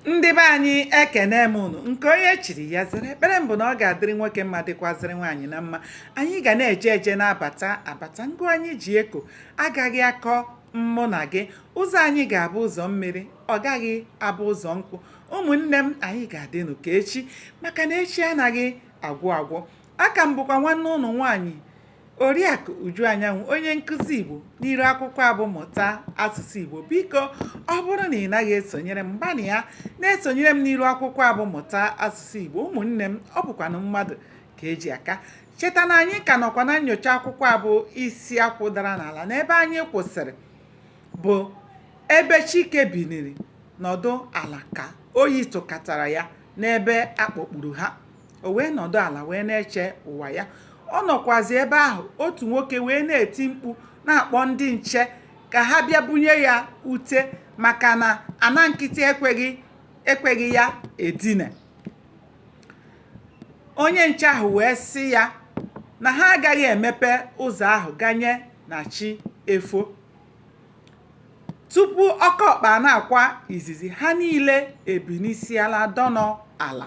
ndị be anyị ekene m unu nke onye chiri ya zere ekpere m bụ na ọ ga-adịrị nwoke mma dịkwazịrị nwaanyị na mma anyị ga na-eje eje na-abata abata ngụ anyị ji eko agaghị akọ mụ na gị ụzọ anyị ga-abụ ụzọ mmiri ọ gaghị abụ ụzọ nkụ ụmụnne m anyị ga-adịnụ ka echi maka na echi anaghị agwụ agwụ a ka m bụkwa nwanne unu nwaanyị Oriakụ Uju Anyanwụ onye nkụzi Igbo n'iru akwụkwọ a bụ mụta asụsụ Igbo biko ọ bụrụ na ị naghị esonyere m gbanịa na-esonyere m n'iru akwụkwọ a bụ mụta asụsụ Igbo ụmụnne m ọ bụkwanụ mmadụ ka e ji aka cheta na anyị ka nọkwa na nnyocha akwụkwọ a bụ isi akwụ dara n'ala na ebe anyị kwụsịrị bụ ebe Chike biniri nọdụ ala ka oyi tụkatara ya n'ebe a kpọkpuru ha o wee nọdụ ala wee na-eche ụwa ya ọ nọkwazi ebe ahụ otu nwoke wee na-eti mkpu na-akpọ ndị nche ka ha bịa bunye ya ute maka na ana nkịtị ekweghị ya edina onye nche ahụ wee sị ya na ha agaghị emepe ụzọ ahụ ganye na chi efo tupu okeọkpa na-akwa izizi ha niile ebinisịala dọnọ ala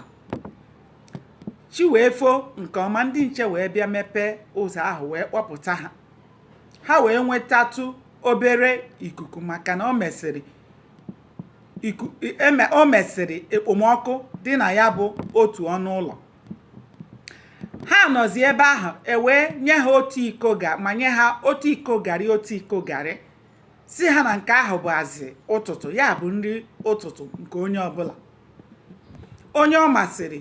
chi wee fo nke ọma ndị nche wee bịa mepee ụzọ ahụ wee kpọpụta ha ha wee nwetatụ obere ikuku maka na o mesịrị ekpomọkụ dị na ya bụ otu ọnụ ụlọ ha nọzi ebe ahụ e wee nye ha manye ha otu iko garị otu iko garị sị ha na nke ahụ bụ azị ụtụtụ ya bụ nri ụtụtụ nke onye ọbụla onye ọ masịrị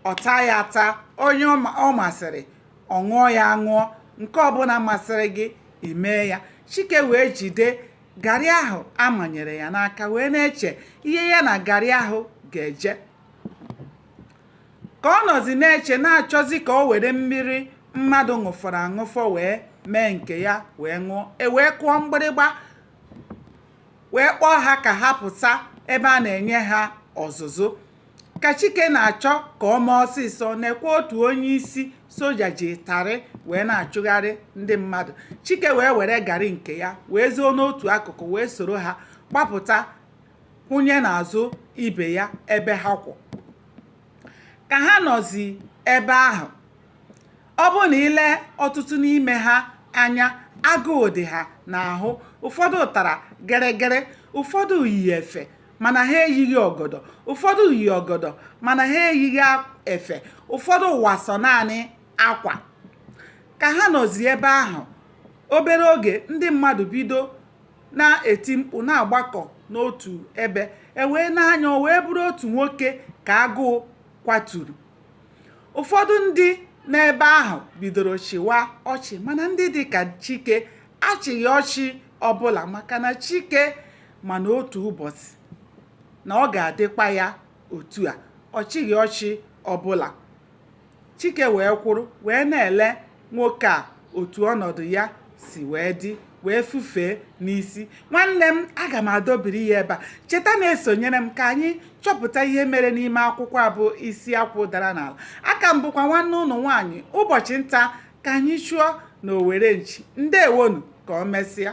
ọ taa ya ata onye ọ masịrị ọ ṅụọ ya aṅụọ nke ọbụla masịrị gị i mee ya chike wee jide garị ahụ a manyere ya n'aka wee na-eche ihe ya na garị ahụ ga-eje Ka ọ nọzi na-eche, na-achọzi ka o were mmiri mmadụ ṅụfọrọ aṅụfọ wee mee nke ya wee ṅụọ, e wee kụọ mgbịrịgba wee kpọọ ha ka ha pụta ebe a na-enye ha ọzụzụ. Ka Chike na-achọ ka o mee ọsịsọ, nekwa otu onye isi soja ji ịtarị wee na-achụgharị ndị mmadụ. Chike wee were garị nke ya wee zoo n'otu akụkụ wee soro ha gbapụta. kwụnye n'azụ ibe ya ebe ha kwụ ka ha nọzi ebe ahụ ọ bụrụ na i lee ọtụtụ n'ime ha anya agụụ dị ha n'ahụ ụfọdụ tara gịrịgịrị ụfọdụ yi efe mana ha eyighị ọgọdọ ụfọdụ yi ọgọdọ mana ha eyighị efe ụfọdụ wa sọ naanị akwa ka ha nọzi ebe ahụ obere oge ndị mmadụ bido na-eti mkpu na-agbakọ n'otu ebe e wee n'anya o wee bụrụ otu nwoke ka agụụ kwaturu ụfọdụ ndị n'ebe ahụ bidoro chịwa ọchị mana ndị dị ka chike achịghị ọchị ọbụla maka na chike ma na otu ụbọchị na ọ ga-adịkwa ya otu a ọ chịghị ọchị ọbụla Chike wee kwụrụ wee na-ele nwoke a otu ọnọdụ ya si wee dị wee fufee n'isi nwanne m aga m adọbiri ya ebe a cheta na-esonyere m ka anyị chọpụta ihe mere n'ime akwụkwọ a bụ isi akwụ dara n'ala aka m bụkwa nwanne ụnụ nwaanyị ụbọchị nta ka anyị chụọ na owere nchi ndewonu ka o mesịa